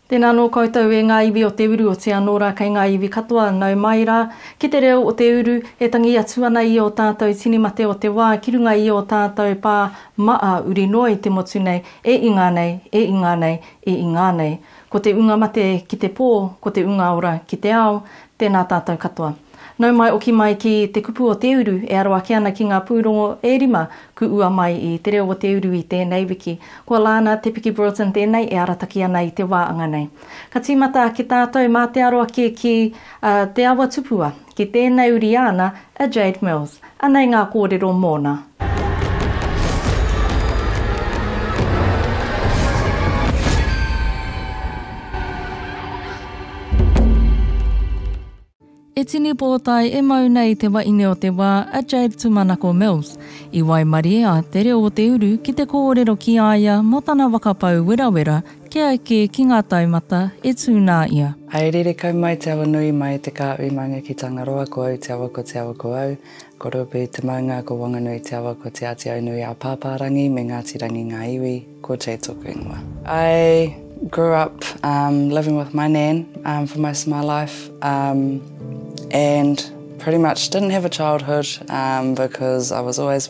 Tēnā anō koutou e ngā iwi o te uru, o te anō rā kei ngā iwi katoa, nau mai rā ki te reo o te uru e tangi atu ana i ō tātou tini mate o te wā ki runga i ō tātou pā maa uri noa i te motu nei, e ingā nei, e ingā nei, e ingā nei. Ko te unga mate ki te pō, ko te unga ora ki te ao, Tēnā tātou katoa. Nau mai oki mai ki Te Kupu o Te Uru e aro ake ana ki ngā pūrongo e rima ku ua mai i Te Reo o Te Uru i tēnei wiki. Ko Lana Te Piki Broughton tēnei e arataki ana i te wā anga nei. Ka tīmata ake tātou mā te aro ake ki Te Awa Tupua, ki tēnei uri āna a Jade Mills. Anei ngā kōrero mōna. E tini pōtae e mau nei te waine o te wā, a Jade Tumanako Mills, i waimarie a Te Reo o te Uru ki te kōrero ki a ia mō tana waka pou werawera Kia eke ki ngā taumata e tū nā ia. Haerere kau mai te awa nui mai te kā ui maunga ki Tangaroa ko au te awa ko te awa ko au ko Ruapehu te maunga ko Wanganui te awa ko Te Ātiaunui a Pāpārangi me Ngāti Rangi ngā iwi ko Jay tōku ingoa. I grew up um living with my nan um for most of my life um and pretty much didn't have a childhood um because I was always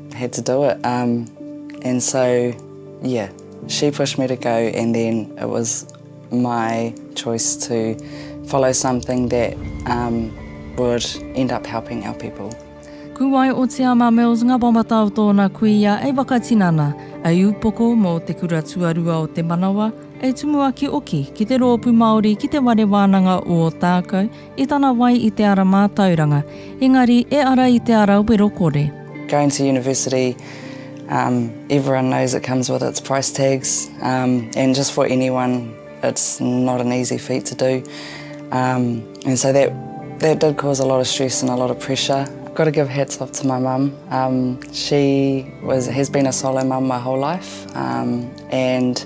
Had to do it um and so yeah she pushed me to go and then it was my choice to follow something that um would end up helping our people. Kuwai o Te Ama Mills ngā wawata o tōna kuia e whakatinana, e upoko mō te kura tuarua o te manawa, e tumuaki oki ki te roopu Māori ki te ware wānanga o Ōtākou, I tana wai i te ara mātauranga, engari e ara i te ara wero kore. Going to university um everyone knows it comes with its price tags um and just for anyone it's not an easy feat to do um and so that that did cause a lot of stress and a lot of pressure. Got to give hats off to my mum um she was has been a solo mum my whole life um and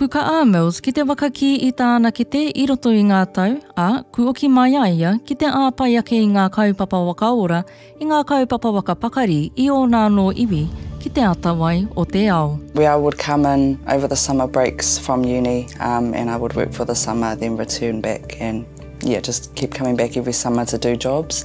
Kuka a Mills ki te waka kī i tāna kete i roto i ngā tau, ā, kuoki mai a ia ki te āpai ake i ngā kaupapa waka ora, i ngā kaupapa waka pakari i ōna anō iwi ki te atawai o te ao. Where I would come in over the summer breaks from uni um and I would work for the summer then return back and yeah just keep coming back every summer to do jobs.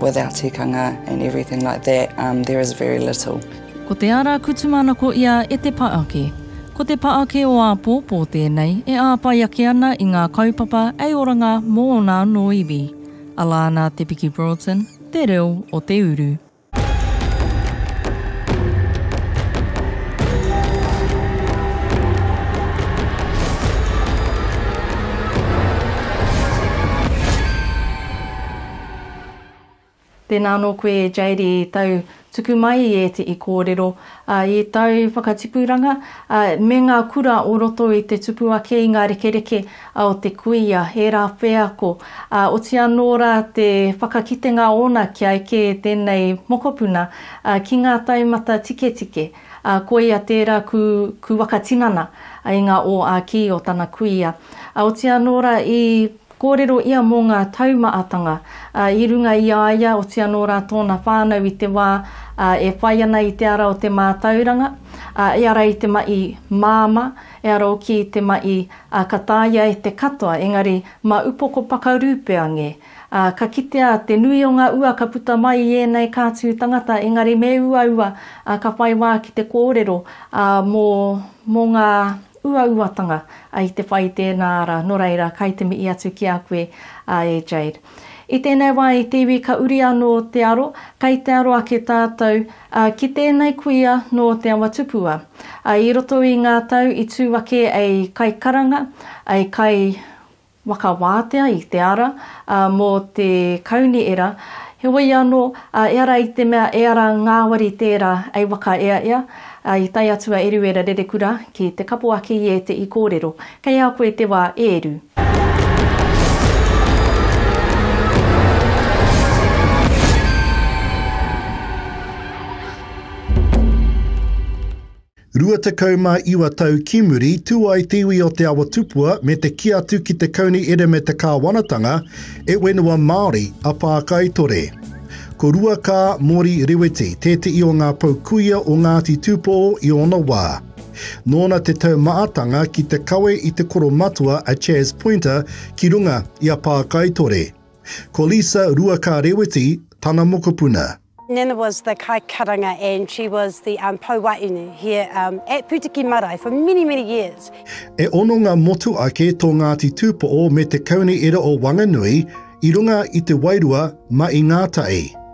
Without tikanga and everything like that, there is very little. Ko te ara kutumanako ia e te paake. Ko te paake o āpōpō tēnei e āpai ake ana i ngā kaupapa hei oranga mō ōna anō iwi. Alana Te Piki Broughton, Te Reo o te Uru. Tēnā anō koe Jade i tau tuku mai i ētehi kōrero, ā, i tau whakatipuranga, ā, me ngā kura o roto i te tupu ake i ngā rekereke, a o te kuia, ērā wheako, ā, oti anō rā te whakakitenga ōna kia eke tēnei mokopuna ki ngā taumata tiketike, ā, koia tērā ku, ku whakatinana i ngā ō-ā-kī o tana kuia. Ā, oti anō rā i kōrero ia mō ngā taumaatanga, ā, i runga i a ia, oti anō rā tōna whānau i te wā, ā, e whai ana i te ara o te mātauranga, ā, i ara i te mahi māmā, E aro ki te maʻi, a ka tāia e te katoa, engari ma upoko pakarū pea nge. A ka kitea te nui o nga ua ka puta mai i enei kātū tangata, engari me uaua, a ka whai wā ki te kōrero, a mo, mo nga uauatanga, a i te whai i tēnā ara, no reira, kai te mihi atu ki a koe, a e Jade. I tēnei wā i te iwi ka uri anō te aro, kei te aro ake tātou, ā, ki tēnei kuia nō Te Awa Tupua. Ā, i roto i ngā tau i tū ake ei kaikaranga, ei kaiwhakawātea i te ara, ā, mō te kauniera, heoi anō, ā, ehara i te mea e ara ngāwari tērā ei wakaeaea, ā, i tae atu a Eruera Rerekura ki te kapoaki i ētehi kōrero Kei a koe te wā e ru. Rua tekau mā iwa tau ki muri, tū ai te iwi o Te Awa Tupua me te kī atu ki te Kauni Ere me te Kāwanatanga, e whenua Māori a Pākaitore. Ko Ruakā Mori Reweti tētehi o ngā pou kuia o Ngāti Tūpō i ōna wā. Nōna te taumaatanga ki te kawe i te koromatua a Chas Pointer ki runga i a Pākaitore. Ko Lisa Ruaka Rewiti tana mokopuna. Nana was the kai karanga and she was the um, pou waeine here um, at Putiki Marae for many, many years. E ono ngā motu ake tō Ngāti Tūpoʻo me te Kaunihera o Wanganui i runga i te wairua ma i ngā tae.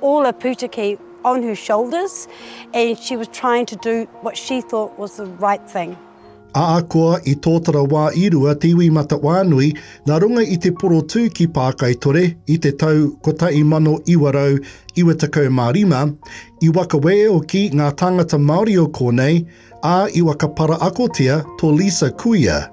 all a putiki on her shoulders and she was trying to do what she thought was the right thing. Ahakoa i tōtara wā i rua te iwi Matawhānui nā runga i te porotū ki Pākaitore i te tau 1995, i wakaweeoki ngā tāngata Māori o kōnei, ā, i wakaparaakotia tō Lisa Kuia.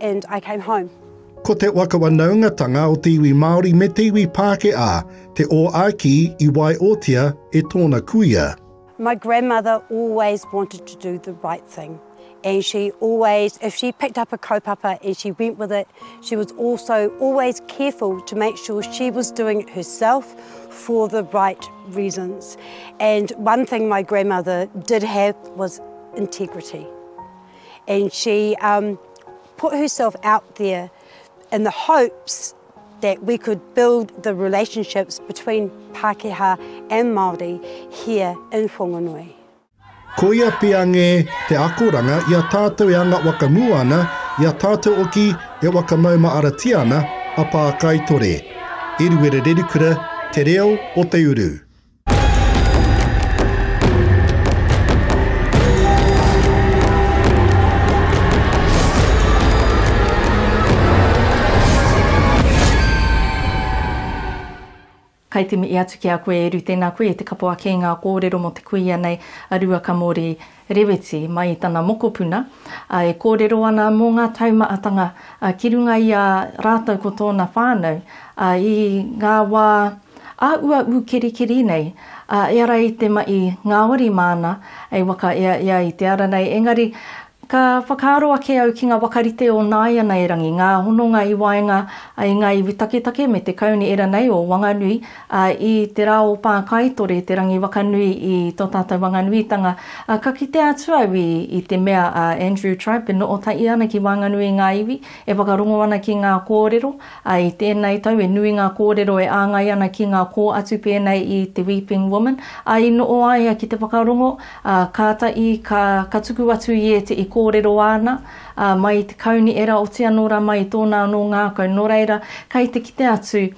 and I came home. Ko te wakawanaungatanga o te iwi Māori me te iwi Pākehā te ōāki i waiotia e tōna kuia. My grandmother always wanted to do the right thing and she always, if she picked up a kaupapa and she went with it, she was also always careful to make sure she was doing it herself for the right reasons. And one thing my grandmother did have was integrity. and she um, put herself out there in the hopes that we could build the relationships between Pākehā and Māori here in Whanganui. Koia pea ngē te akoranga i a tātou e anga whakamua ana, i a tātou oki e whakamaumaaratia ana a Pākaitore. Eruera Rerikura, Te Reo o Te Uru. Kai te mihi atu ki a koe Eru, tēnā koe, te kapo ake i ngā kōrero mō te kuia nei a Ruakamori. Reweti, mai i tana mokopuna, ā, e kōrero ana mō ngā taumaatanga ki runga i a rātou ko tōna whānau, ā, i ngā wā ā-uaū kirikiri nei, ā, e ara i te maʻi ngāwari māna e waka ea ia i te ara nei, engari ka whakaaro ake au ki ngā waka rite o nāianairangi, ngā hononga i waenga i ngā iwi taketake me te kaunihera nei o Wanganui, Ā, i te rā o Pākaitore, te rangi wakanui i tō tātou Wanganuitanga, ā, ka kite atu au i, i te mea a Andrew Tribe e noho tahi ana ki waenganui i ngā iwi, e whakarongo ana ki ngā kōrero, ā, i tēnei tau e nui ngā kōrero e āngai ana ki ngā kō atu pēnei i te Weeping Woman, ā, i noho a ia ki te whakarongo, ā, kātahi ka, ka tuku atu i ēte i kōrero āna, ā, mai i te kauni e raoti anō rā mai i tōna anō ngākau, nō reira, kei te kite atu,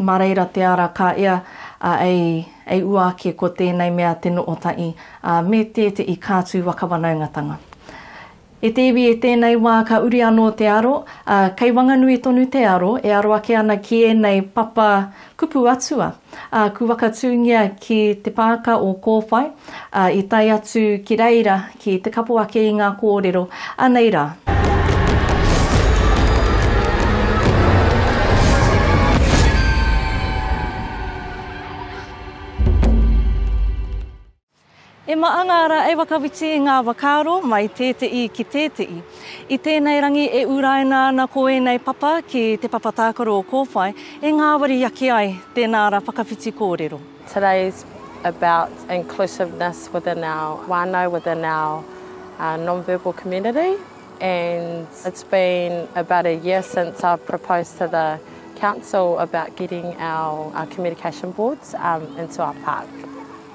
Mā reira te ara ka ea ei ua ake ko tēnei mea te noo taʻi, me te te i kā tū waka wanaungatanga. E te iwi i tēnei wā ka uri anō te aro, ā, kei Wanganui tonu te aro e aro ake ana ki ēnei papa kupu atua, ā, ku waka tūngia ki te pāka o Kōwhai, ā, i tae atu ki reira ki te kapo ake i ngā kōrero, anei rā. E Maangara, e Whakawhiti ngā whakaaro mai tēteʻi ki tēteʻi. I tēnei rangi e uraina ana ko ēnei papa ki te papa tākaro o Kōwhai e ngāwari ake ai, tēnā ra whakawhiti kōrero. Today's about inclusiveness within our whanau, within our non-verbal community and it's been about a year since I've proposed to the council about getting our communication boards into our park.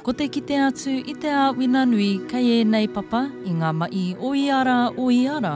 Ko te kite atu i te āwina nui kei ēnei papa i ngā mahi o ia rā, o ia rā,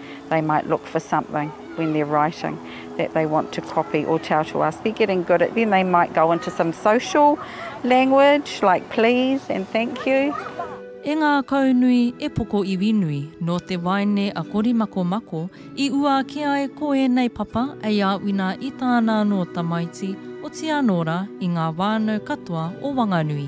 they might look for something when they're writing that they want to copy or tell to us. They're getting good at then they might go into some social language like please and thank you. E ngākaunui, e poko iwi nui, nō te waeine a Korimakomako i ua ake ai ko ēnei papa ei āwina i tāna anō tamaiti, otianō rā, i ngā whānau katoa o Wanganui.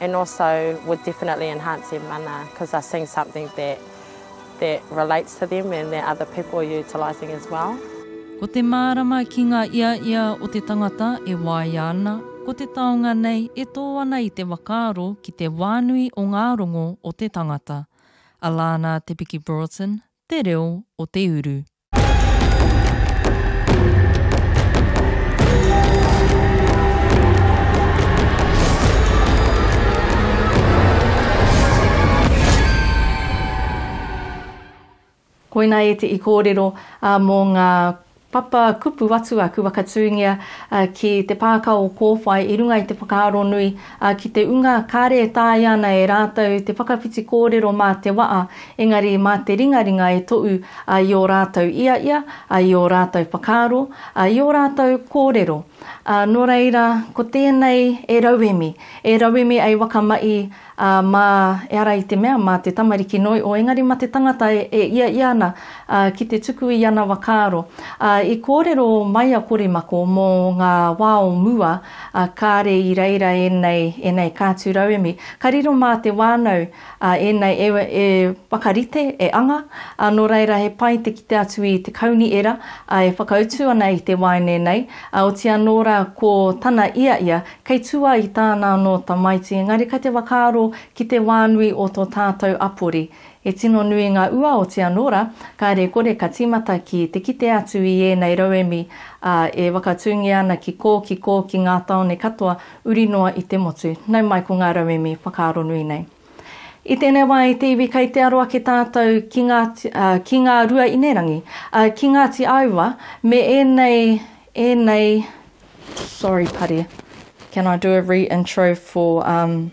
and also would definitely enhance their mana because they're seeing something that that relates to them and that other people are utilising as well. Ko te mārama ki ngā ia ia o te tangata e waia ana, ko te taonga nei e tō ana i te whakaaro ki te wānui o ngā rongo o te tangata. Alana Te Piki Broughton, Te Reo o te Uru. Koina ētehi kōrero mō ngā papa kupu atu a Kuakatūngia ki te pāka o Kōwhai i runga i te whakaaro nui Ā, ki te unga, kāre e taea ana e rātou te whakawhiti kōrero mā te waʻa, engari mā te ringaringa e toʻu, ā, i ō rātou iaia, ā, i ō rātou whakaaro, ā, i ō rātou kōrero. Ā, nō reira, ko tēnei e rauemi, e rauemi ai wakamaʻi, ā, mā, ehara i te mea, mā te tamariki noi ʻo, engari mā te tangata e, e iaia ana, ā, ki te tuku i ana wakaaro. Ā, i kōrero mai a Korimako mō ngā wā o mua, ā, kāre i reira ēnei, ēnei kātū rauemi. Ka riro mā te wānau, ā, ēnei e, e whakarite, e anga, ā, nō reira he pai te kite atu i te kaunihera, ā, e whakautu ana i te waeine nei, ā, oti anō rā ko tana ia ia, kei tū ai i tāna anō tamaiti, engari kei te whakaaro ki te wānui o tō tātou apori, E tino nui ngā ua o te anō rā, kāre kore ka tīmata ki te kite atu i ēnei rauemi, ā, e whakatūngia ana ki kō, ki kō, ki ngā tāone katoa, uri noa i te motu. Nau mai ko ngā rauemi whakaaro nui nei. I tēnei wā i te iwi kei te aro ake tātou ki ngā, ā, ki ngā rua inerangi, ā, ki Ngāti Aua me ēnei, ēnei, sorry pari, can I do a re-intro for, um.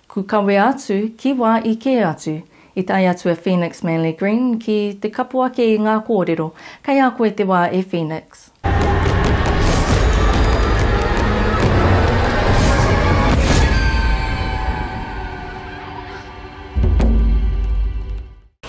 Ku kawea atu ki wa i ke atu. I tae atu a Phoenix Manly Green ki te kapo ake i nga korero. Kei a koe te wa e Phoenix.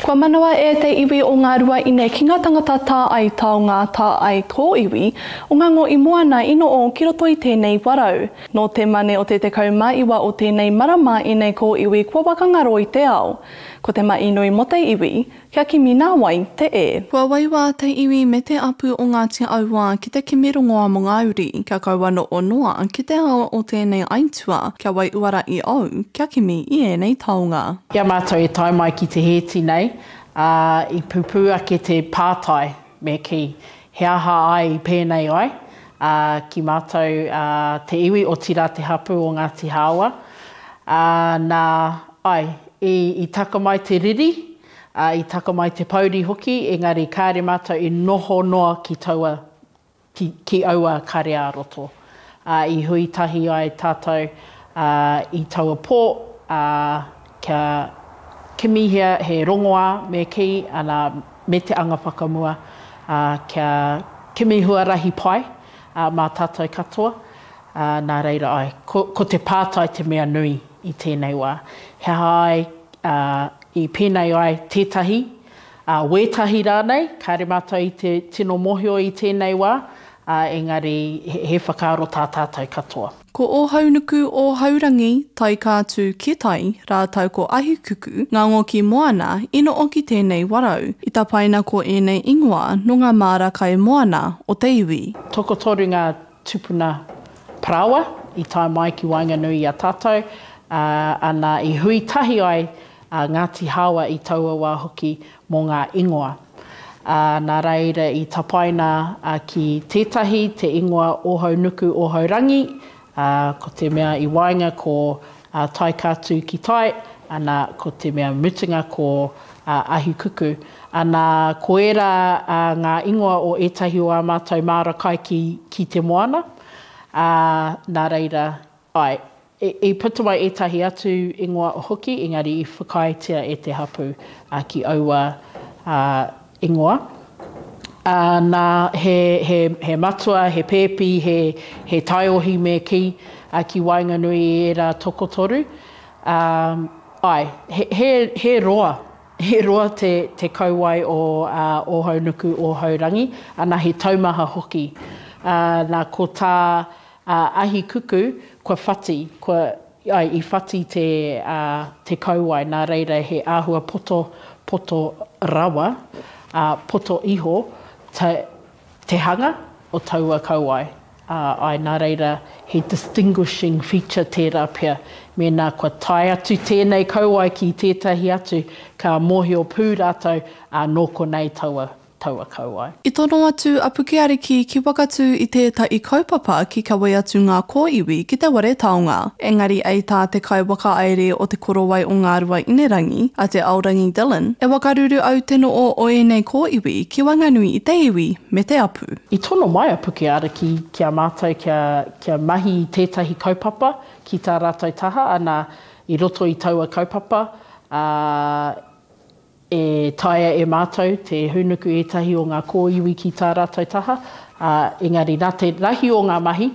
Kua manawa e te iwi o Ngā Ruaine ki ngā tangata tā ai taonga, tā ai tō iwi, o ngā ngo i moana i noʻo ki roto i tēnei warau. Nō te mane o te tekau ma iwa o tēnei marama ēnei kōiwi kua wakangaro i te ao. Ko te maʻi nui mo te iwi, kia kimi nā wai te e. Kua waiwa te iwi me te apu o Ngāti Auā ki te kimi rongoa mo ngā uri, kia kaua noʻo noa ki te ao o tēnei aitua, kia wai uara i ou, kia kimi i ēnei taonga. I a mātou e tae mai ki te hēti nei, ā, i pupū ake te pātai, me kī, He aha ai i pēnei ai, ā, ki mātou, ā, te iwi, otirā te hapū o Ngāti Hāoa? Ā, nā, āe, i, i taka mai te riri, ā, i taka mai te pōuri hoki, engari kāre mātou i noho noa ki taua ki aua kare ā-roto. Ā, i hui tahi ai tātou i taua pō, ā, kia kimihia he rongoā me kī ana me te anga whakamua, ā, kia kimi huarahi pai mā tātou katoa, ā, nā reira ai, ko, ko te pātai te mea nui i tēnei wā, he aha ai i pēnei ai tētahi ā, wētahi rānei, kāre mātou i te tino mōhio i tēnei wā, ā, engari he whakaaro tā tātou katoa. Ko Ōhaunuku, Ōhaurangi, Taikātū, Kitai, rātou ko Ahikuku, Ngango ki Moana, i noʻo ki tēnei warau, i tapaina ko ēnei ingoa nō ngā māra kai moana o te iwi. Tokotoru ngā tupuna parāoa i tae mai ki waenganui i a tātou, ā, nā, i hui tahi ai a Ngāti Hāoa i taua wā hoki mō ngā ingoa. Ā, nā reira i tapaina ki tētahi te ingoa Ōhaunuku Ōhaurangi, ā, ko te mea i waenga ko A tae ka tu ki tai, ana ko te mea mutunga ko a Ahukuku. Ana ko era a nga ingoa o etahi o a matou maara kai ki ki te moana. A na reira, ae, i puta mai etahi atu ingoa hoki engari i whakaaetia e te hapu a ki aua a Ingoa, ā, nā, he, he, he matua, he pēpi, he, he taiohi me kī, ā, ki waenganui i ērā tokotoru, ā, āe, he, he, he roa, he roa te, te kauae o, ā, Ōhaunuku, Ōhaurangi, ana he taumaha hoki. Ā, nā, ko tā, ā, Ahikuku, kua whati, kua. Āe, i whati te, ā, te kauae, nā reira he āhua poto, poto rawa, ā, poto iho ta, te hanga o taua kauae, ā, āe, nā reira he distinguishing feature tērā pea. Mēnā kua tae atu tēnei kauae ki tētahi atu, ka mōhio pū rātou, ā, nō konei taua taua kauae. I tono atu a Pukeariki ki Wakatū i tētahi kaupapa ki kawē atu ngā kōiwi ki te ware taonga. Engari ei tā te kaiwakaēre o Te Korowai o Ngāruainerangi, a Te Aorangi Dillon, e wakaruru au te noo o ēnei kōiwi ki waenganui i te iwi me te apu. I tono mai a Pukeariki ki a mātou kia, kia mahi i tētahi kaupapa ki tā rātou taha, ana, i roto i taua kaupapa, ā, E taea e mātou te hūnuku ētahi o ngā kōiwi ki tā rātou taha, ā, engari nā te rahi o ngā mahi,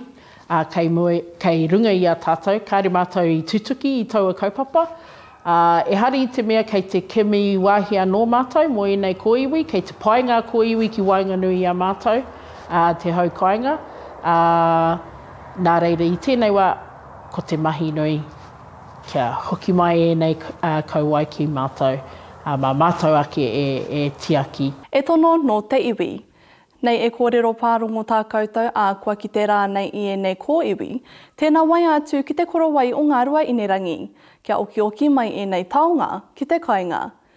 ā, kei mua, kei runga i a tātou, kāore mātou i tutuki i taua kaupapa. Ā, ehara i te mea kei te kimi wāhi anō mātou mō ēnei kōiwi, kei te pai ngā kōiwi ki waenganui i a mātou, ā, te hau kāinga, ā, nā reira i tēnei wā, ko te mahi nui. Kia hoki mai ēnei kauae ki mātou, ā, mā mātou ake e tiaki. E tono nō te iwi. Nei e kōrero pārongo tā koutou, ā, kua kite rānei i ēnei kōiwi. Tēnā waea atu ki te korowai o Ngāruaīnerangi, kia okioki mai ēnei taonga ki te kainga.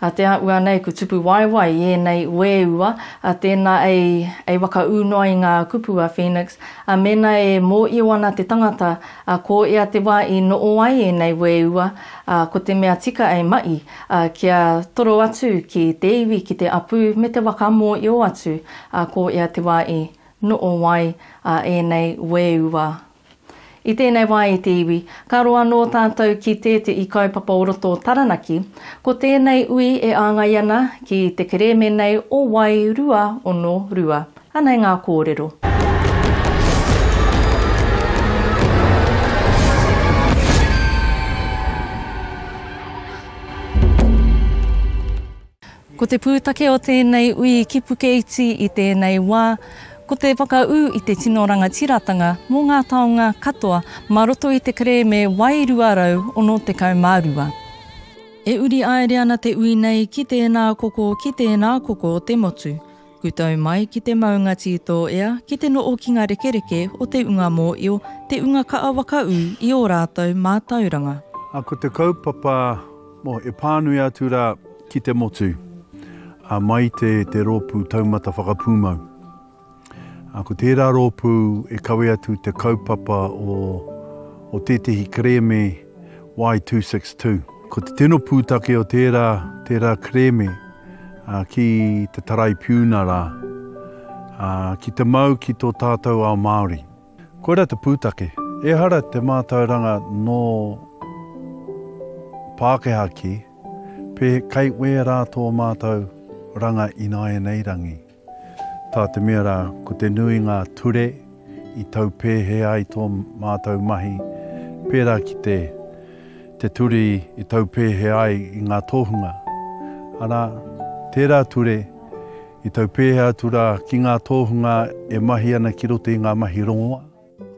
A te a ua nei ku tupu waewae i enei ueua, a tena ei, ei waka u noa i nga kupu a Phoenix, a mena e moio ana te tangata, a ko ea te wa i noo ai enei ueua, a ko te mea tika ei maʻi, a kia toro atu ki te iwi ki te apu me te waka moio atu, a ko ea te wa i noo ai a enei ueua. I tēnei wā e te iwi, ka roa anō tātou ki te te i kaupapa o roto o Taranaki, ko tēnei ui e āngai ana ki te kerēme nei o Wai 2-ono-rua. Anei ngā kōrero. Ko te pūtake o tēnei ui ki Pukeiti i tēnei wā, ko te whakaū i te tino rangatiratanga mō ngā taonga katoa mā roto i te kerēme Wai 262. E uri aere ana te ui nei ki tēnā koko ki tēnā koko te motu. Kutau mai ki te maunga tī tō ea, ki te noo ki nga rekereke o te unga mōio, te unga kaa waka ū i ō rātou mātauranga. A ko te kaupapa, mo e pānui atu rā ki te motu, a mai te te rōpū taumata whakapūmau. A ko tērā rōpū e kawe atu te kaupapa o o tētehi kerēme, Y262. Ko te tino pūtake o tērā, tērā kerēme ki te Taraipiuna rā, ki te mau ki tō tātou ao Māori. Koirā te pūtake, ehara te mātauranga nō Pākehā kē, pē, kei wērā tō mātou ranga ināianei rangi. Tā te mea rā, ko te nui ngā ture i tau pēhea ai tō mātou mahi, pērā ki te te ture i tau pēhea ai i ngā tōhunga, arā, tērā ture i tau pēhea atu rā ki ngā tōhunga e mahi ana ki roto i ngā mahi rongoa.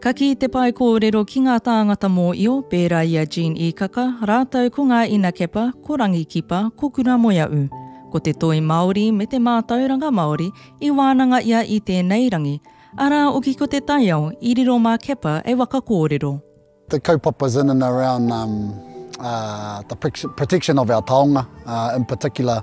Ka kī te pae kōrero ki ngā tāngata mōio, pērā i a Jean Īkaka, rātou ko ngā Ina Kepa, ko Rangi Kipa, ko Kuramoeaʻu. Ko te toi Māori me te mātauranga Māori i wānanga ia i tēnei rangi, arā oki ko te taiao i riro mā Kepa e waka kōrero. The kaupapas in and around the protection of our taonga, in particular,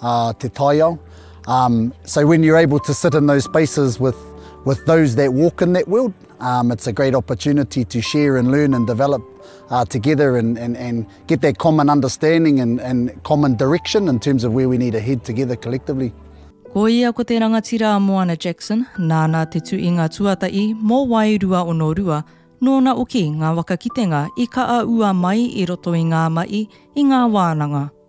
ā te taiao. Um, so when you're able to sit in those spaces with, with those that walk in that world, um, it's a great opportunity to share and learn and develop uh, together and, and, and get that common understanding and, and common direction in terms of where we need to head together collectively. Ko ia ko te rangatira a Moana Jackson, nāna te tu i ngā tuatahi mō wai rua ono rua, nōna oki ngā waka kitenga i ka a ua mai i roto i ngā mahi, i ngā wānanga.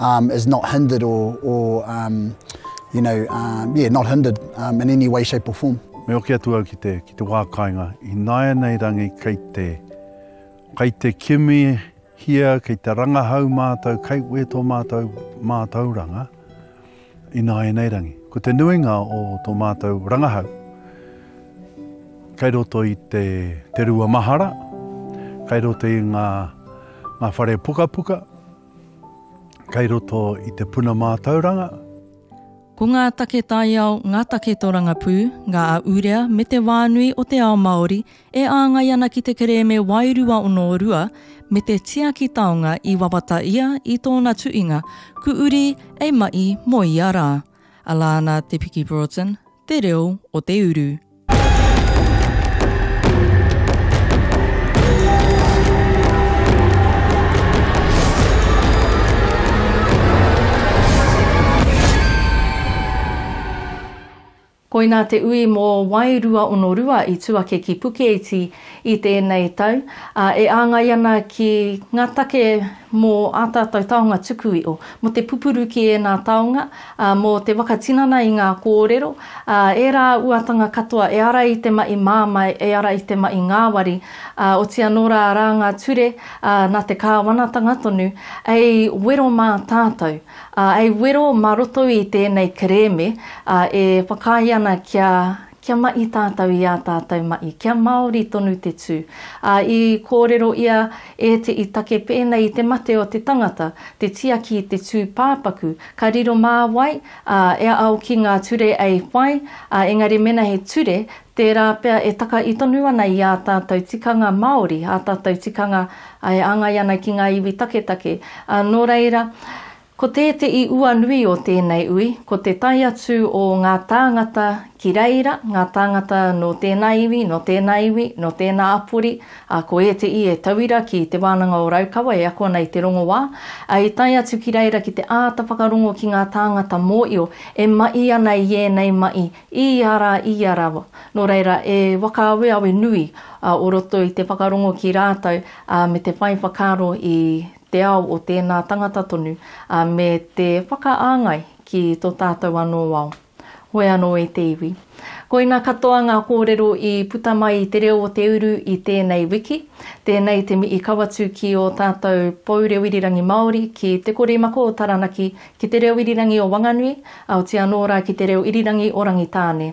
Um, is not hindered or, or um, you know, um, yeah, not hindered um, in any way, shape or form. Me oke atu au ki te, ki te wā kāinga, i nāianei rangi kei te, kei te kimi hia, kei te rangahau mātou, kei wē tō mātou mātauranga, i nāianei rangi. Ko te nuinga o tō mātou rangahau, kei roto i te, te rua mahara, kei roto i ngā, ngā whare pukapuka, kei roto i te puna mātauranga. Ko ngā take taiao, ngā take torangapū, ngā ahurea me te whānui o te ao Māori e āngai ana ki te kerēme wairua ono rua me te tiaki taonga i wawata ia i tōna tuinga Ku Uri e Ma'i mo ia rā. Alana Te Piki Broughton, Te Reo o te Uru. Koinā te ui mō Wai 212 i tū ake ki Pukeiti i tēnei tau, ā, e āngai ana ki ngā take mō ā tātou taonga tukui'o. Mō te pupuru ki ēnā taonga, Ā, mō te whakatinana i ngā kōrero, ā, ērā uatanga katoa e ara i te mahi mamae, e ara i te mahi ngāwari, ā, oti anō rā arā ngā ture, ā, nā te Kāwanatanga tonu, ei wero mā tātou, ā, ei wero mā roto i tēnei kerēme, ā, e whakaae ana kia, Kia maʻi tātou i ā tātou maʻi, kia māori tonu te tū. Ā, i kōrero ia e te i take pēnei i te mate o te tangata, te tiaki i te tū pāpaku, ka riro mā wai, ā, e ao ki ngā ture ei whai, ā, engari mēnā he ture, tērā pea e taka i tonu ana i ā tātou tikanga māori, ā tātou tikanga e āngai ana ki ngā iwi taketake. Ā, nō reira, Ko te te i ua nui o tēnei ui, ko te tae atu o ngā tāngata ki reira, ngā tāngata nō tēnā iwi, nō tēnā iwi, nō tēnā apori, ā, ko ēteī e tauira ki Te Wānanga o Raukawa e ako ana i te rongoā, ā, i tae atu ki reira ki te āta whakarongo ki ngā tāngata mōio e maʻi ana i ēnei maʻi i ia rā, i ia rā, nō reira, e whakaaweawe nui o roto i te whakarongo ki rātou, ā, me te whai whakaaro i te ao o tēnā tangata tonu, ā, me te whakaāngai ki tō tātou anō ao. Hoe anō e te iwi. Koina katoa ngā kōrero i puta mai i Te Reo o te Uru i tēnei wiki. Tēnei te mihi kawatu ki ō tātou Pou Reo Irirangi Māori, ki Te Koremako o Taranaki, ki Te Reo Irirangi o Wanganui, aoti anō rā ki Te Reo Irirangi o Rangitāne.